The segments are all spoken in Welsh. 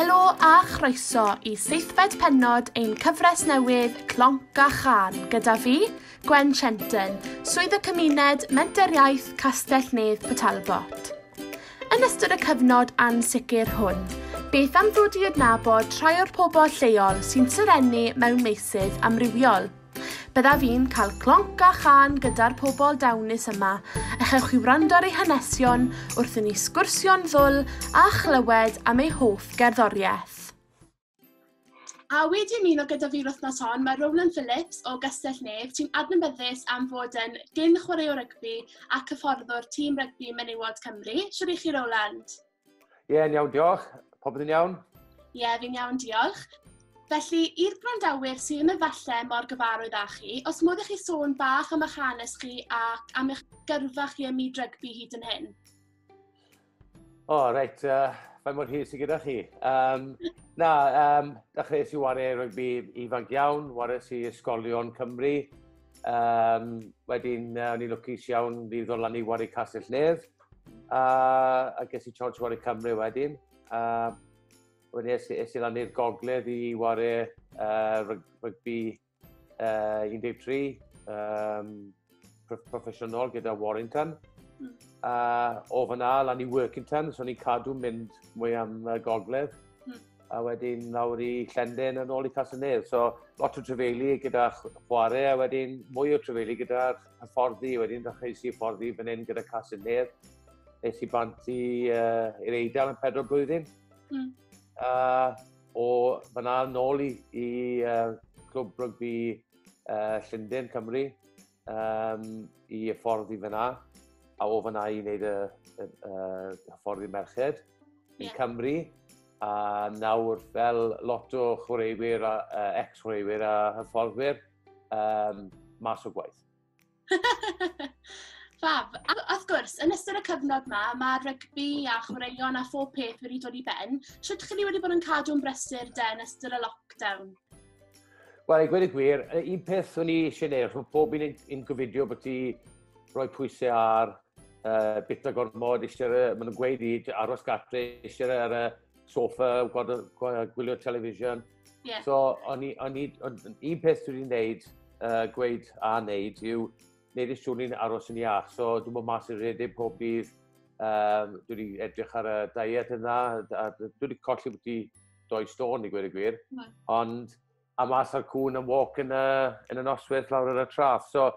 Helo a chroeso i seithfed pennod ein cyfres newydd Clonc a Chân gyda fi, Gwen Shenton, Swydd y Cymuned, Menter Iaith Castell Nedd Pwtalbot. Yn ystod y cyfnod ansicr hwn, beth am ddod i adnabod rhai o'r pobl lleol sy'n serennu mewn meysydd amrywiol? Byddaf i'n cael clonc a chân gyda'r pobl dawnus yma, a chewch chi wrando ar eu hanesion wrth i ni sgwrsio'n ddwl a chlywed am eu hoff gerddoriaeth. A wedi ymuno gyda fi'r wythnos hon, mae Rowland Phillips o Gastell Nef, sy'n adnabyddus am fod yn gyn chwaraewr rygbi ac hyfforddwr tîm rygbi menywod Cymru. Siwr i chi, Rowland? Ie, yn iawn, diolch. Popeth yn iawn? Ie, yeah, fi'n iawn, diolch. Felly, i'r gwrandawyr sydd yn y falle mor gyfarwydd â chi, os modd i chi sôn bach am eich hanes chi ac am eich gyrfa chi ym myd rygbi hyd yn hyn. O, oh, reit, uh, fe mor hir sydd gyda chi. Um, na, um, dechreuais i wario rygbi ifanc iawn, wario si ysgolion Cymru. Um, wedyn, uh, o'n i'n lwcus iawn, ni ddod lan i wario Castell Nedd. Uh, a ges i chance wario Cymru wedyn. Uh, wedyn es, es i lan i'r gogledd i wario uh, rygbi uh, 13 um, proffesiynol gyda Warrington. Mm. Uh, o fyna lan i Workington, so ni'n cadw mynd mwy am uh, gogledd. Mm. A wedyn lawr i Llenden yn ôl i Casanedd. So lot o trefeili gyda chwarae a wedyn mwy o trefeili gyda'r y ffordd i wedyn, ddechrau i i'r ffordd i fan hyn gyda Cas yn Nedd. Nes i bant i, uh, i'r Eidal yn pedro blwyddyn. Mm. Uh, o fyna nôl i, i uh, clwb rygbi uh, Llundain, Cymru, um, i y ffordd i fyna. A o fyna i wneud y, y, y, y ffordd i merched yn yeah. Cymru a nawr fel lot o chwaraewyr, uh, ex-chwaraewyr a hyfforddwyr, um, mas o gwaith. Fab. A, wrth gwrs, yn ystod y cyfnod yma, mae rygbi a chwaraeon a phob peth wedi dod i ben. Sut chi wedi bod yn cadw yn brysur de yn ystod y lockdown? Wel, i gweud y gwir, un peth o'n i eisiau neud, mae pob un yn gofidio bod ti roi pwysau ar uh, bit o gormod, eisiau, maen nhw'n gweud i aros gatre, eisiau ar y sofa, gwylio television. Yeah. So, o'n i, o'n i, un peth dwi'n gwneud, uh, gweud a wneud yw, wneud eich siŵr ni'n aros yn iach. So, dwi'n bod mas i'r rhedeg pob dydd, um, dwi wedi edrych ar y diet yna, a dwi wedi colli bod i doi stôn i gwir y gwir, mm. ond a mas ar cwn yn walk yn y, yn y noswyth lawr ar y traf. So,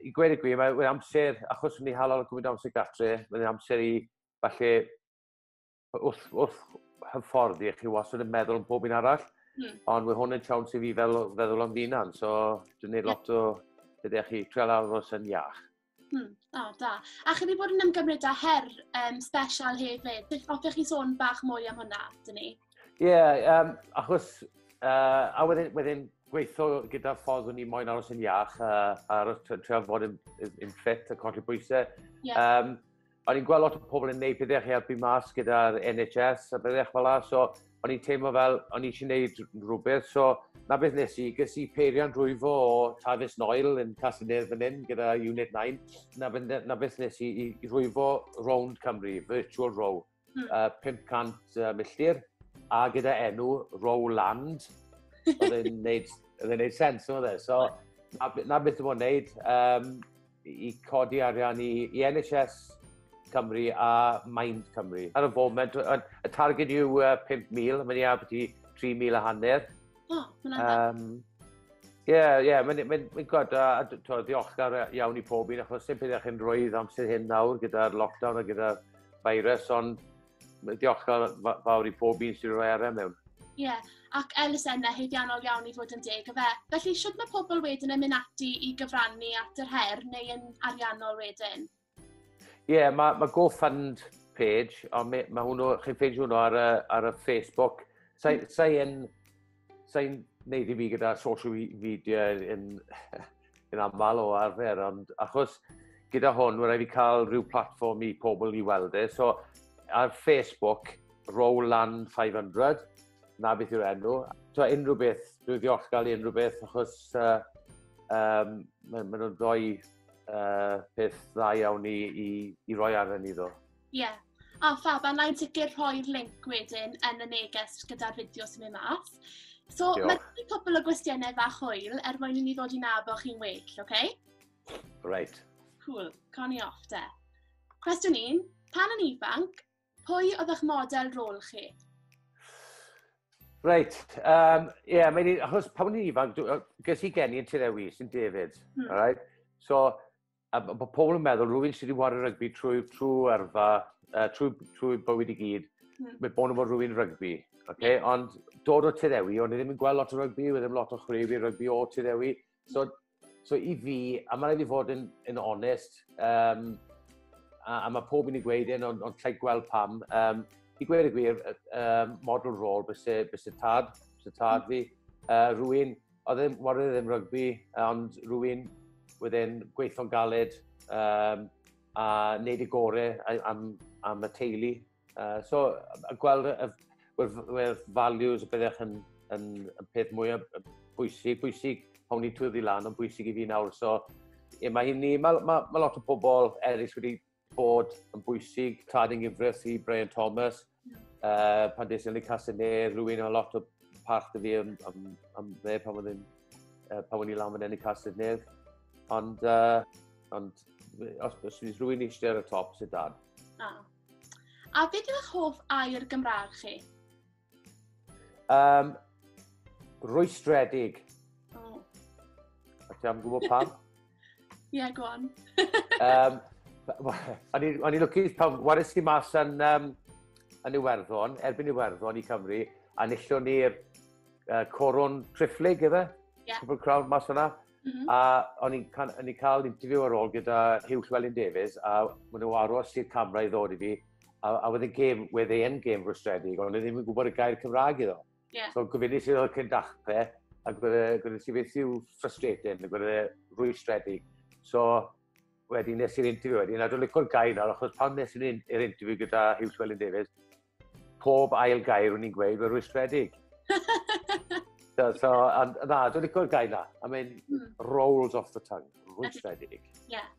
i gwir y gwir, mae'n amser, achos ni halal o gwybod amser gatre, mae'n amser i falle wrth, wrth hyfforddi, chi wastad yn meddwl am pob un arall, mm. ond mae hwn yn siawns i fi fel, feddwl am finan, so dwi'n gwneud lot o, ydych chi, treol aros yn iach. Hmm. O, oh, da. A chi wedi bod yn ymgymryd â her um, special hefyd. Beth hoffech chi sôn bach mwy am hwnna, dyn ni? Ie, yeah, um, achos, uh, a wedyn, wedyn gweithio gyda ffordd o'n i moyn aros yn iach uh, a aros treol fod yn, yn, yn ffit a colli bwysau. Yeah. Um, o'n i'n gweld lot o pobl yn neud pethau i helpu mas gyda'r NHS a bethau fel la, so o'n i'n teimlo fel o'n i eisiau neud rhywbeth, so na beth nes i, gys i peirian drwyfo o Travis Noel yn Casinedd fan hyn gyda Unit 9, na, na beth nes i, i, i rwyfo rownd Cymru, virtual row, hmm. uh, 500 uh, milltir, a gyda enw row land, oedd e'n neud, oedd e'n neud sens, oedd e, so na, na beth yw'n neud, um, i codi arian i, i NHS Cymru a Mind Cymru. Ar y foment, y targed yw uh, 5,000, mae'n iaf beth i 3,000 a hanner. O, oh, mae'n adeg. Um, Ie, yeah, ie, yeah, mae'n mae, mae gwrdd, a, a ddiolchgar iawn i pob un, achos sy'n pethau chi'n rhoi amser hyn nawr gyda'r lockdown a gyda'r virus, ond Diolch fawr i pob un sy'n rhoi ar e mewn. Ie, yeah. ac elusennau heidiannol iawn i fod yn deg y fe. Felly, sut mae pobl wedyn yn mynd ati i gyfrannu at yr her neu yn ariannol wedyn? Ie, yeah, mae ma GoFund page, ond mae ma hwnnw, chi'n ffeindio hwnnw ar y, ar y Facebook. Sa'i mm. sa yn Sa'n neud i fi gyda social media yn, yn aml o arfer, ond achos gyda hwn, mae'n rhaid i cael rhyw platform i pobl i weld e. So, ar Facebook, Roland 500, na beth yw'r enw. So, unrhyw beth, dwi'n ddiolchgar i unrhyw beth, achos uh, um, maen ma nhw'n rhoi uh, peth dda iawn i, i, i roi arnyn ni ddo. Ie. Yeah. A oh, fab, a na i sicr rhoi'r link wedyn yn y neges gyda'r fideo sy'n mynd mas. So, mae wedi cwpl o gwestiynau fach hwyl er mwyn i ni ddod i nabo chi'n well, oce? Okay? Right. Cool, con i off de. Cwestiwn un, pan yn ifanc, pwy oedd eich model rôl chi? Reit, ie, um, yeah, mae'n achos pan o'n i'n ifanc, ges i geni yn Tirewis yn David, hmm. right? So, a bod pobl yn meddwl rhywun sydd wedi wario rygbi trwy, trwy erfa, uh, trwy, trwy bywyd i gyd, mm. mae bod yn bod rhywun rygbi. Okay? Yeah. Ond dod o Tyddewi, o'n i ddim yn gweld lot o rygbi, oedd ddim lot o chwrif i rygbi o Tyddewi. So, so i fi, a mae'n rhaid i fod yn, yn onest, um, a, a mae pob yn ei gweud yn, ond, ond lle gweld pam, um, i gweud y gwir, um, model rôl bys y tad, bys y tad mm. fi, uh, rwy'n oedd e'n wario'n ddim rygbi, ond rwy'n wedyn gweithio'n galed um, a wneud y gore am, am y teulu. Uh, so, a gweld y, y, values y byddech yn, yn, yn peth mwyaf bwysig, bwysig, hwn i twyddi lan, ond bwysig i fi nawr. So, ie, mae hynny, mae, mae, mae lot o bobl eraill wedi bod yn bwysig tad yn gyfres i Brian Thomas. Uh, pan des i'n ei casau ne, rwy'n a lot o parch dy fi am, am, am dde pan oedd yn uh, pan oedd i lan fan enni casau ne. Ond, uh, ond os, os fydd rwy'n eisiau ar y top, sydd dad. A. a beth yw'ch hoff air Gymraeg chi? Um, rwystredig. Oh. A ti am gwybod pam? Ie, yeah, go on. um, o'n i'n lwcus pan waris i mas yn, um, yn Iwerddon, erbyn Iwerddon i Cymru, a nillwn ni'r uh, coron trifflig, efe? Yeah. Cwbl crawd mas yna. Mm -hmm. A o'n i'n ca cael interview ar ôl gyda Hugh Llewellyn Davies, a maen nhw aros i'r camera i ddod i fi, a, a wedyn gêm, wedd ei end gêm rwystredig, ond ddim yn gwybod y gair Cymraeg iddo. Yeah. So gofynu sydd o'r cyn dachrau, a gwneud ti beth yw frustrating, a gwneud e rwystredig. So, wedyn nes i'r interview wedyn, a dwi'n licor gair nawr, achos pan nes i'r interview gyda Hugh Llewellyn Davies, Pob ail gair o'n i'n gweud fy rwystredig. so, so, and, na, dwi'n licor gair na. I mean, mm. rolls off the tongue, rwystredig. Ie. Yeah.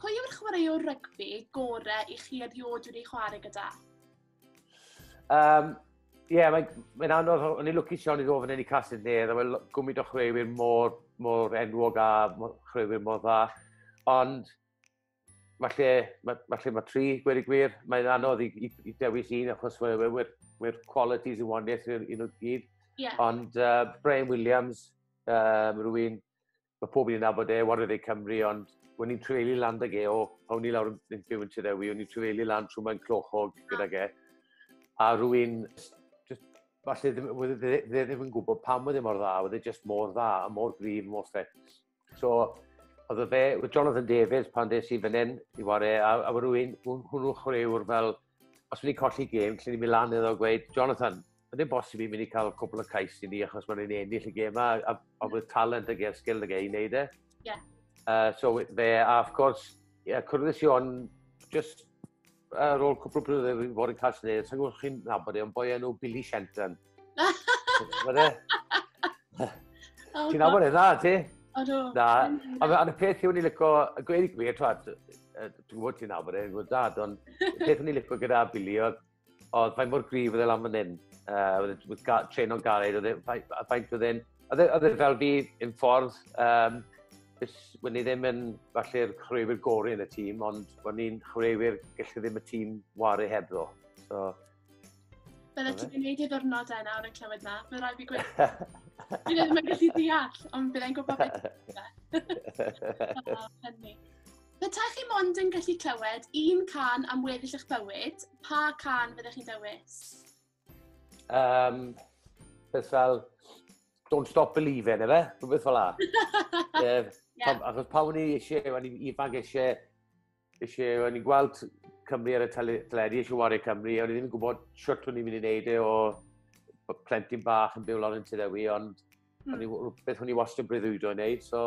Pwy yw'r chwaraewr rygbi gore i chi erioed wedi chwarae gyda? Um, Ie, yeah, mae'n mae anodd, o'n i'n lwcus iawn i ddod fan hyn i Casyn Nedd, a mae'n gwmwyd o chreuwyr mor, mor enwog a chreuwyr mor dda. Ond, mae lle, mae, mae lle mae tri, gwir i gwir, mae'n anodd i, i, i dewis un, achos we'r we, we, we qualities yn waniaeth i'r un o'r gyd. Yeah. Ond uh, Brian Williams, um, rwy'n, mae pob un yn abod e, Warrior Day Cymru, ond When i'n trefelu lan ag e o, awn ni lawr yn byw yn Tirewi, o'n i'n trefelu lan trwy mae'n clochog gydag e. A rwy'n, falle ddim, ddim yn gwybod pam oedd e mor dda, oedd e just mor dda, a mor grif, mor ffet. So, oedd y fe, oedd Jonathan Davies pan des i fan hyn, i ware, a, a wedi rwy'n hwnnw chwaraewr fel, os wedi colli gêm, lle ni'n mynd lan iddo a gweud, Jonathan, mae'n ddim bosib i'n mynd i cael cwbl o cais i ni achos mae'n ei ennill y gêm yma, a, a, a bydd talent ag e'r sgil ag ei wneud e. Yeah. Uh, so fe, a of course, yeah, cwrdd i Sion, just Ar ôl cwpl o blynyddoedd wedi bod yn cael Sinead, sa'n gwybod chi'n nabod e, ond boi enw Billy Shenton. Fydde? Ti'n nabod e, na, ti? Odw. Na, a y peth yw ni lyco, y gweud i gwir, twad, dwi'n gwybod ti'n nabod e, gwybod dad, ond y peth yw ni lyco gyda Billy oedd, oedd fain mor grif oedd e lan fan hyn, oedd e tren o'n galed, oedd e faint oedd e'n, oedd e fel fi yn ffordd, um, Wyn ni ddim yn falle'r chwaraewyr gorau yn y tîm, ond wyn ni'n chwaraewyr gallu ddim y tîm waru hebddo. So, Bydde ti'n gwneud ei ddwrnodau nawr yn clywed na, fe rai fi gweud. Fi ddim yn gallu deall, ond byddai'n gwybod beth yw'n hynny. Petaech chi mond yn gallu clywed un can am weddill eich bywyd, pa can fyddech chi'n dewis? Um, beth fel, don't stop believing, efe? Rhywbeth fel la. yeah. yeah. Achos pa o'n i eisiau, o'n i'n ifanc eisiau, eisiau, o'n i'n gweld Cymru ar y teledu, eisiau wario Cymru, o'n i ddim yn gwybod siwt o'n i'n mynd i wneud e o plentyn bach yn byw lawr yn Tyd Ewi, ond mm. beth o'n i wastad yn breuddwydo i wneud, so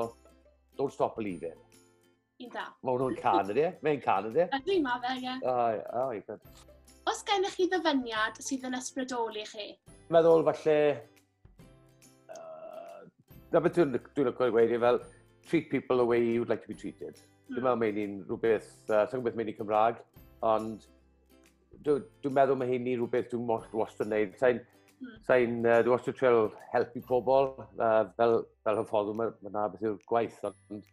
don't stop believing. Yn da. Mae hwnnw'n can ydi e? Mae'n can ydi e? Ydy, ma fe, ie. Ai, ai, good. Os gennych chi ddyfyniad sydd yn ysbrydoli chi? Meddwl falle... Uh, na beth dwi'n dwi lyco i weid, fel treat people the way you'd like to be treated. Mm. Dwi'n meddwl mae'n un rhywbeth, uh, sa'n gwybod mae'n un Cymraeg, ond dwi'n dwi meddwl mae hyn i rhywbeth dwi'n mor wastad yn neud. Sa'n mm. sa uh, dwi wastad treol helpu pobl, uh, fel, fel hyffoddw, mae yna beth yw'r gwaith, ond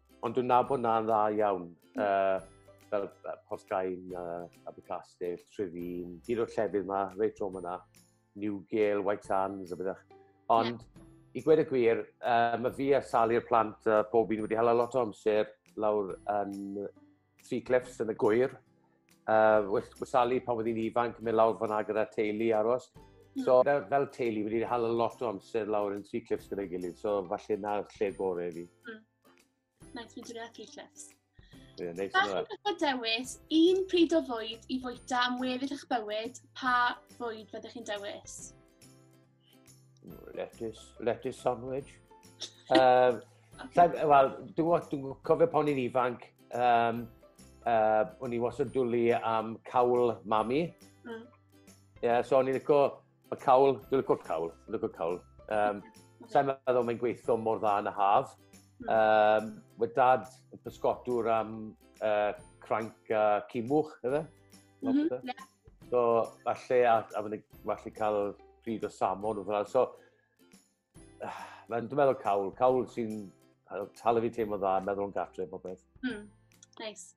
Ond dwi'n nabod na'n dda iawn. Uh, fel uh, Portgain, uh, Abercastell, Trefin, hyd o'r llefydd yma, reit trom yna, Newgale, White Sands, a byddech. Ond yeah. i gwed y gwir, uh, mae fi a Sali'r plant uh, pob un wedi hala lot o amser lawr yn Tri clips yn y gwyr. Uh, Wysalu pan oedd hi'n ifanc, mynd lawr fyna gyda teulu aros. Hmm. So, fel, fel teulu, wedi cael a lot o amser lawr yn tri clips gyda'i gilydd, so falle na'r lle gore i fi. Mm. Nice, fi'n dweud tri clips. Ie, yeah, neis yna. Bach yn dewis, un pryd o fwyd i fwyta am weddill eich bywyd, pa fwyd fyddech chi'n dewis? Lettuce, lettuce sandwich. um, Wel, dwi'n cofio pan i'n ifanc, um, uh, o'n i wastad dwlu am cawl mami. Mm. Yeah, so o'n i'n licio y cawl, dwi'n licio cawl, dwi'n licio cawl. Um, Sa'n meddwl mae'n gweithio mor dda yn y haf. Mm. Um, Mae dad yn pysgotwr am uh, cranc a cimwch, efe? Mm -hmm, yeah. So, falle, a, a fyny, falle cael pryd o samon o fel. So, mae'n dwi'n meddwl cawl, cawl sy'n talu fi teimlo dda, meddwl yn gatre, pob beth. Hmm, nice.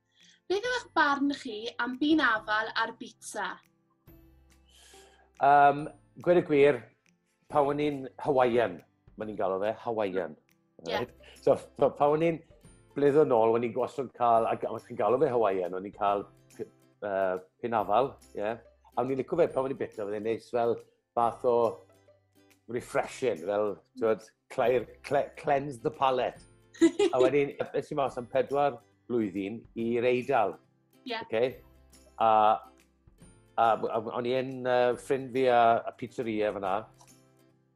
Beth yw'ch barn chi am byn afal ar bita? Um, gwed y gwir, pan o'n i'n Hawaiian, mae'n ni'n galw fe, Hawaiian. Yeah. Right? So, so pan o'n i'n blyddo nôl, o'n i'n gwasod cael, ac os chi'n galw fe Hawaiian, o'n i'n cael uh, pin afal, ie. Yeah. A o'n i'n licio fe pan o'n i'n bita, fydde'n neis fel fath o refreshing, fel, twyd, clear, cle, cleanse the palate. a wedyn, es i mas am pedwar blwyddyn i'r Eidal, Yeah. Okay. A, a, a o'n i yn uh, ffrind fi a, a pizzeria fyna,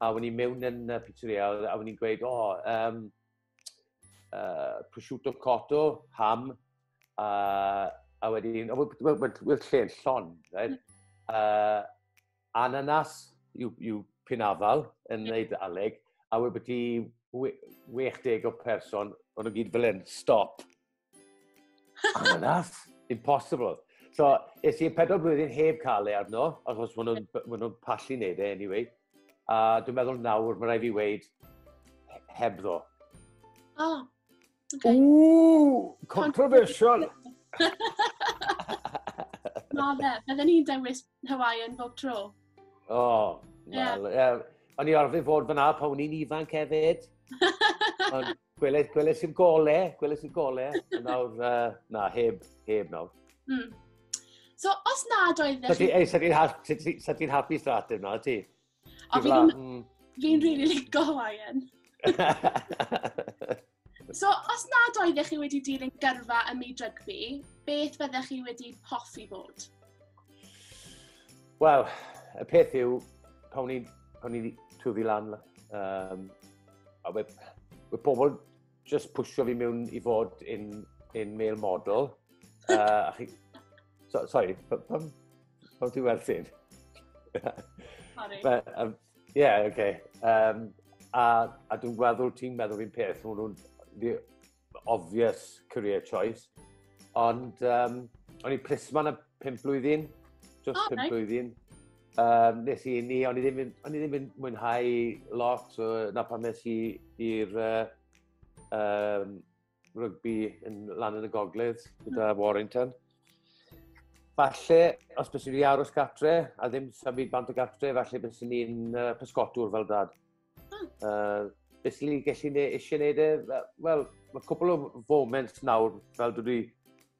a o'n i mewn yn uh, pizzeria, a o'n i'n gweud, o, oh, um, uh, prosciutto cotto, ham, a, a wedyn, oh, well, well, well, lle yn llon, right? Uh, ananas yw, yw pinafal yn yeah. neud aleg, a wedi 60 o person, o'n nhw gyd fel yn stop I'm a laugh. Impossible. So, es i'n pedwar blwyddyn heb cael ei arno, achos maen nhw'n ma nhw pallu neud e anyway. A dwi'n meddwl nawr, mae rai fi weid, heb ddo. Oh, okay. Ooh, controversial. Na fe, bydden ni'n dewis Hawaiian bob tro. O, oh, yeah. well, yeah. O'n i arfer fod fyna pan o'n i'n ifanc hefyd. Ond Gweles, gweles i'r gole, gweles i'r gole. nawr, uh, na, heb, heb nawr. Mm. So, os nad oedd... Sa ti'n sa ti, sa ti, hapus dda ateb na, ti? O, fi'n mm. fi rili ligo Hawaiian. so, os nad oedd chi wedi dilyn gyrfa ym myd rygbi, beth fyddech chi wedi hoffi bod? Wel, y peth yw, pan o'n i'n twfi lan um, A we, we pobl just pwysio fi mewn i fod yn, yn male model. Uh, chi... so, sorry, pam, pam, pam ti'n werthin? Sorry. But, um, yeah, okay. Um, a, a dwi'n gweld ti'n meddwl fi'n peth, maen nhw'n obvious career choice. Ond um, o'n i plismon y pimp blwyddyn, just oh, pimp nice. blwyddyn. Um, nes i ni, o'n i ddim yn, o'n i ddim yn mwynhau lot, so, na pan nes i i'r uh, um, rygbi yn lan yn y gogledd gyda mm. Warrington. Falle, os bys i wedi aros gatre, a ddim symud bant o gatre, falle bys i'n uh, pysgotwr fel dad. Hmm. Uh, beth ni'n gallu ne, eisiau gwneud e? Wel, mae cwpl o foment nawr, fel dwi wedi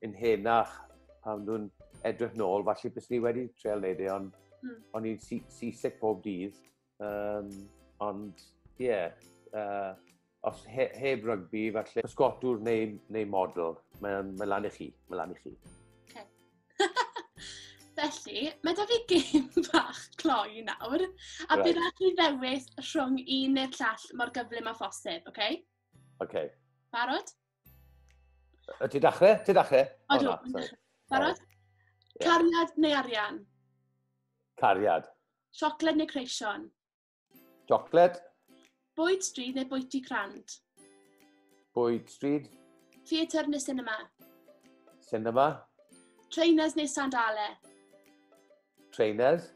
yn henach, pan dwi'n edrych nôl, falle bys ni wedi treol wneud e, ond mm. o'n i'n seasick bob dydd. Um, ond, ie, yeah, uh, os he, heb rygbi, falle pysgotwr neu, neu model, mae'n mae lan i chi, mae'n lan i chi. Felly, mae da fi gêm bach cloi nawr, a right. bydd rhaid i ddewis rhwng un neu'r llall mor gyflym a phosib, oce? Okay? Oce. Okay. Barod? Y ti dachrau? Ti dachrau? O, oh, no, Barod? Yeah. Cariad neu arian? Cariad. Siocled neu creision? Chocolate. Bwyd stryd neu bwyty crand? Bwyd stryd. Theatr neu cinema? Cinema. Trainers neu sandale? Trainers.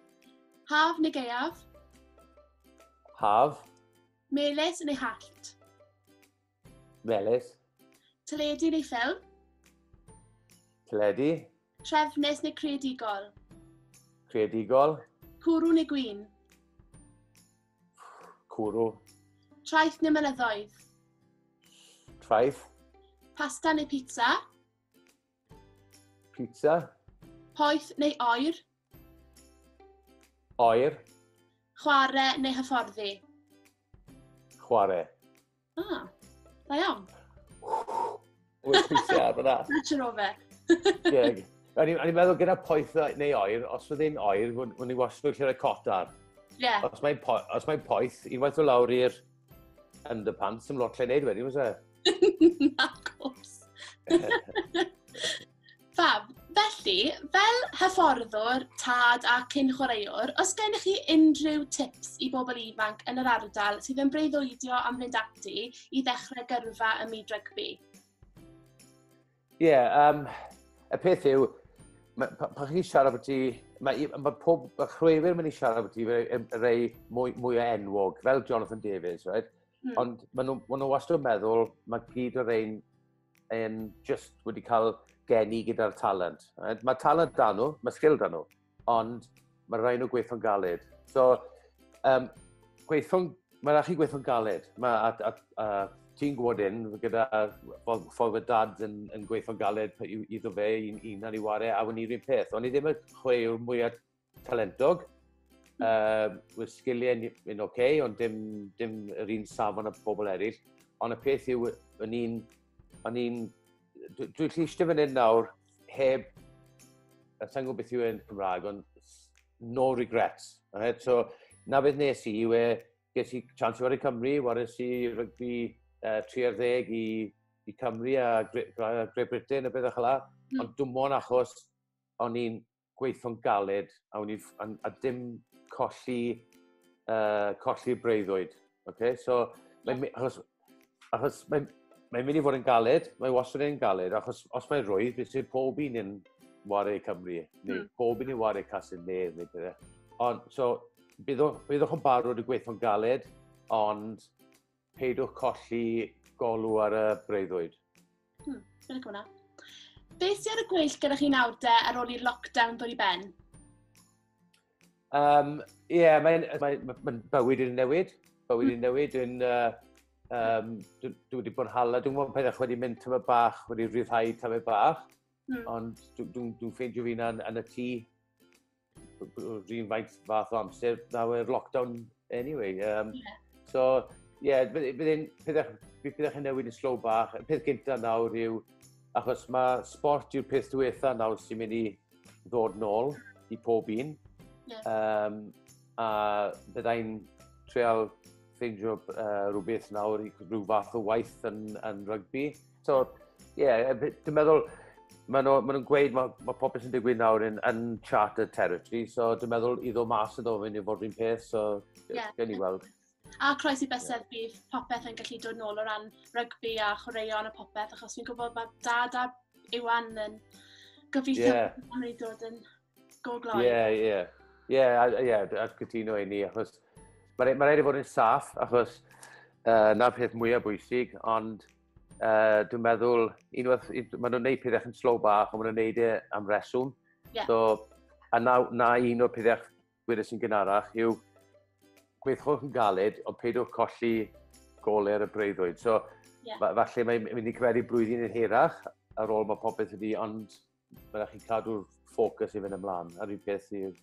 Haf neu gaeaf? Haf. Meles neu hallt? Melys. Teledu neu ffilm? Teledu. Trefnus neu creadigol? Creadigol. Cwrw neu gwyn? Cwrw. Traeth neu mynyddoedd? Traeth. Pasta neu pizza? Pizza. Poeth neu oer? Oer. Chwarae neu hyfforddi? Chwarae. Ah, da iawn. Wyt pwysiau ar fyna. Nature o fe. Ie. O'n i'n meddwl gyda poeth neu oer, os oedd hi'n oer, o'n i'n wasio lle rhoi cot ar. Ie. Os mae'n po mae poeth, unwaith o lawr i'r underpants, sy'n lot lle wneud wedyn, was e? Na, cwrs. Fab, felly, fel hyfforddwr, tad a cyn chwaraewr, os gennych chi unrhyw tips i bobl ifanc yn yr ardal sydd yn breuddwydio am fynd ati i ddechrau gyrfa ym myd rygbi? Ie, yeah, um, y peth yw, pan chi'n siarad bod ti, mae, ma pob ma chwefr yn mynd i siarad bod ti rei mwy, mwy o enwog, fel Jonathan Davies, right? Mm. Ond maen nhw, ma nhw wastad yn meddwl, mae gyd o'r ein um, just wedi cael geni gyda'r talent. Mae talent da nhw, mae sgil da nhw, ond mae rhaid nhw gweithio'n galed. So, um, gweithio'n, mae rhaid chi gweithio'n galed. Mae, a, a, a, ti'n gwybod un, gyda ffordd y dad yn, yn gweithio'n galed iddo fe, un, un ar ei ware, a wni rhywun peth. Ond i ddim y chwe yw'r mwyaf talentog. Uh, Wy'r sgiliau yn, yn oce, okay, ond dim, dim yr un safon y pobl eraill. Ond y peth yw, o'n i'n... O'n i'n... Dwi'n dwi llistio fan hyn nawr, heb... A sa'n gwybod beth yw e'n Cymraeg, ond no regrets. Right? So, na beth nes i, yw e, ges i chance i wario Cymru, waris i rygbi uh, 30 i, i Cymru a Great Britain a beth o'ch la. Mm. Ond dwi'n mwyn achos o'n i'n gweithio'n galed a, ni, a, a dim colli, uh, colli breuddwyd. Okay? So, yeah. mae, achos, achos mae, mae'n mynd i fod yn galed, mae wastad yn galed, achos os mae'n rwydd, beth sy'n pob un yn wario Cymru, neu mm. pob un yn wario Casin Nedd, neu beth. E. Ond, so, byddwch yn barod i gweithio'n galed, ond Peidiwch colli golw ar y breuddwyd. Hmm, dwi'n licio hwnna. Beth sydd ar y gweill gyda chi nawr de ar ôl i'r lockdown dod i ben? Um, yeah, mae'n mae, mae, mae bywyd yn newid. Bywyd yn hmm. newid. Yn, uh, um, dwi, dwi wedi bod yn hala. Dwi'n mwyn pethau wedi mynd tyma bach, wedi rhyddhau tyma bach. Mm. Ond dwi'n dwi, dwi ffeindio fi'n yn, yn y tŷ. rhywun faint fath o amser na we'r lockdown anyway. Um, yeah. So, ie, yeah, bydd yn pethau chi'n newid yn slow bach. Y peth gyntaf nawr yw, achos mae sport yw'r peth diwetha nawr sy'n mynd i ddod nôl i pob un. Yeah. Um, a byddai'n treol ffeindio uh, rhywbeth nawr i rhyw fath o waith yn, yn rygbi. So, ie, yeah, dwi'n meddwl, maen nhw'n ma nhw gweud mae ma pob beth sy'n digwydd nawr yn uncharted territory, so dwi'n meddwl i ddod mas yn ofyn i fod rhywun peth, so yeah. gen i weld. A croes i bysedd yeah. bydd popeth yn gallu dod nôl o ran rygbi a chwaraeon a popeth, achos fi'n gwybod bod dad a Iwan yn gobeithio yeah. bod nhw'n ei dod yn go gloi. Ie, yeah, ie. Yeah. Ie, yeah, ie, yeah, a cytuno i ni, achos mae'n ma rhaid i fod yn saff, achos uh, na'r peth mwyaf bwysig, ond Uh, dwi'n meddwl, unwaith, maen nhw'n gwneud pethau yn slow bach, ond maen nhw'n gwneud e am reswm. Yeah. So, a na, na un o'r pethau gwirus sy'n gynharach yw gweithwch yn galed, ond peidiwch colli goler y breuddwyd. So, yeah. falle mae'n mynd i cyferi blwyddyn yn hirach ar ôl mae popeth ydi, ond Mae'n rhaid chi cadw'r ffocws i fynd ymlaen, a'r un peth i'r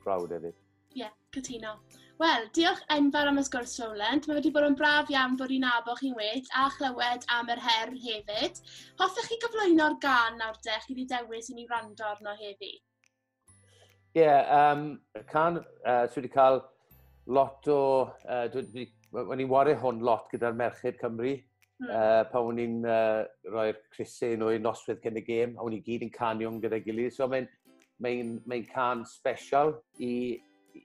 crowd hefyd. Ie, yeah, cytuno. Wel, diolch enfawr am y sgwrs, Rowland. Mae wedi bod yn braf iawn bod i'n abo chi'n well a chlywed am yr her hefyd. Hoffech chi gyflwyno'r gan nawr de, chi wedi dewis i ni wrando arno heddi? Ie, yeah, um, can, uh, dwi wedi cael lot o... Uh, dwi, dwi, o'n i'n wario hwn lot gyda'r Merched Cymru, mm. uh, pan o'n i'n uh, rhoi'r crysau nhw i'r noswedd cyn y gêm, a o'n i gyd yn canion gyda'i gilydd. So mae'n mae mae can special i, i,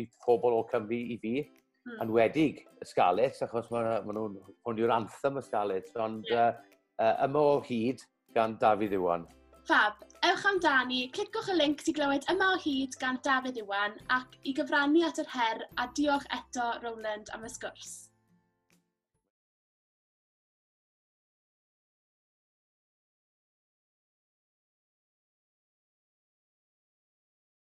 i pobl o Cymru i fi, mm. anwedig y Scarlets, achos maen ma nhw'n hwn yw'r anthem y Scarlets, ond yeah. uh, uh, yma o hyd, gan Dafydd Iwan. Fab, ewch amdani, clicwch y link ti glywed yma o hyd gan Dafydd Iwan ac i gyfrannu at yr her a diolch eto Rowland am y sgwrs.